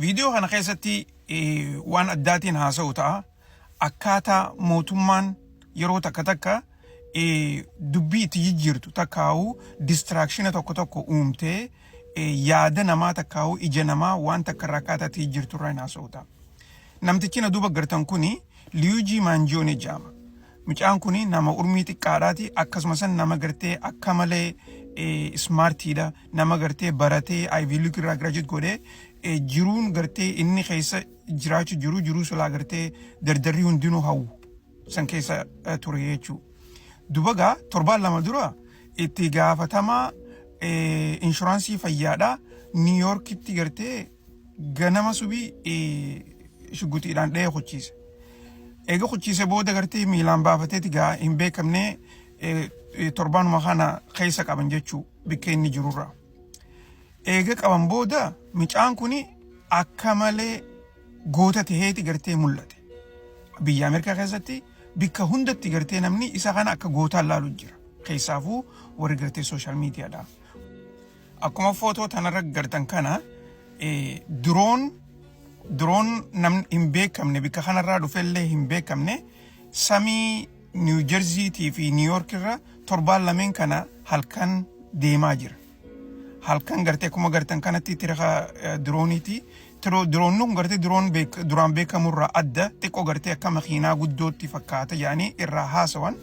Viidiyoo kana keessatti waan addaatiin haasa'u ta'a. Akkaataa mootummaan yeroo takka takka dubbii itti jijjiirtu takkaa'u distiraakshina tokko tokko uumtee yaada namaa takkaa'u ija namaa waan takka irraa akkaataa itti jijjiirtu irraa hin haasa'u ta'a. Namtichi na duuba gartan kuni Liyuujii Maanjoonee jedhama. Mucaan kun nama urmii xiqqaadhaati akkasumas nama gartee akka malee ismaartiidha nama gartee baratee Ivy League irraa graduate godhee eh, jiruun gartee inni keessa jiraachu jiru jiruu silaa gartee dardarrii hundinuu hawwu san keessa eh, ture jechuu dubagaa torbaan lama dura itti gaafatamaa eh, inshuraansii fayyaadha Niw Yoorkitti gartee ganama subii eh, shugguxiidhaan dha'ee kuchiise. Eega kuchiise booda gartee miilaan baafateeti gaa hin beekamne eh, eh, torbaanuma kana keessa qaban jechuu bikka inni jirurraa. Eega qaban booda mucaan kun akka malee goota ta'eeti gartee mul'ate. Biyya Ameerikaa keessatti bikka hundatti gartee namni isa kana akka gootaan laalu jira. Keessaafuu warri gartee sooshaal miidiyaadha. Akkuma footoo tanarra gartan kana diroon diroon namni hin beekamne bikka kanarraa dhufellee hin beekamne samii Niiw Jerziitii fi Niiw Yoork irra torbaan lameen kana halkan deemaa jira. Halkan gartee akkuma gartan kanatti tiraka dirooniiti. Diroonni kun gartee diroon duraan beekamurraa adda xiqqoo gartee akka makiinaa guddootti fakkaata jedhanii irraa haasawan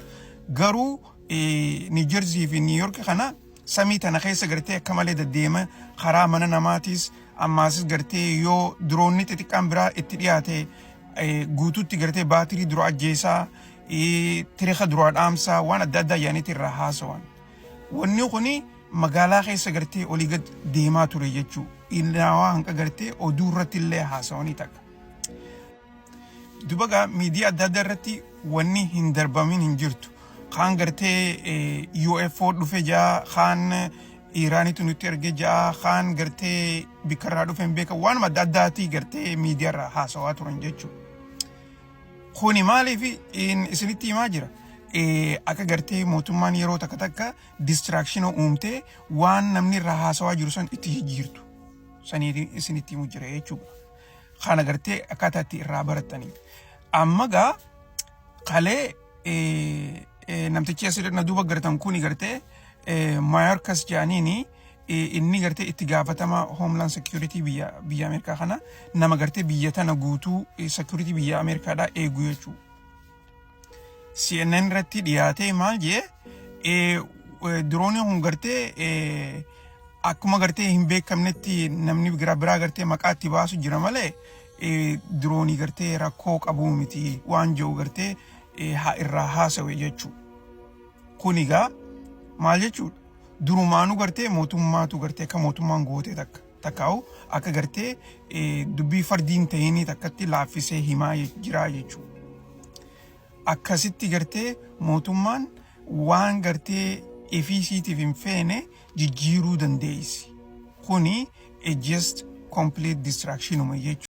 garuu Niiw Jerzii fi Niiw Yoork kana samii tana keessa gartee akka malee daddeema karaa mana namaatiis ammaasis gartee yoo diroonni xixiqqaan biraa itti dhiyaate eh, guutuutti gartee baatirii dura ajjeesaa eh, tirika duraa dhaamsaa waan adda addaa yaaniitti irraa haasawan. Wanni kuni magaalaa keessa gartee olii gad deemaa ture jechuu. Ilnaawaa hanqa gartee oduu irratti illee haasawanii takka. Dubaga miidiyaa adda addaa irratti wanni hin darbamin hin jirtu. Kaan gartee eh, UFO dhufe jaa, kaan Iraanitu nutti erge jaa, kaan gartee bikkarraa dhufe hin beekan waanuma adda addaatii gartee miidiyaarraa haasawaa turan jechuudha. Kuni maaliif in- isinitti himaa jira? Eh, Akka gartee mootummaan yeroo takka takka distraakshina uumtee waan namni irraa haasawaa jiru san itti jijjiirtu. Saniif isinitti himu jira jechuudha. Kaan agartee akkaataa itti irraa baratanii. Amma gaa kalee namtichi asirra na duuba gartan kuni gartee Mayorkas jedhaniini inni gartee itti gaafatama Homeland Security biyya biyya Ameerikaa kana nama gartee biyya tana guutuu security biyya Ameerikaadhaa eegu jechuudha. CNN irratti dhiyaatee maal jee diroonii kun gartee akkuma gartee hin beekamnetti namni biraa biraa gartee maqaa itti baasu jira malee diroonii gartee rakkoo qabuu miti waan jiru gartee haa irraa haasawe jechuu kun egaa maal jechuudha durumaanuu gartee mootummaatu gartee akka mootummaan gootee takka. takkaa'u akka gartee dubbii fardiin ta'inii takkatti laaffisee himaa jiraa jechuudha. Akkasitti gartee mootummaan waan gartee efiisiitiif hin feene jijjiiruu dandeessi. Kuni a just complete distractionuma jechuudha.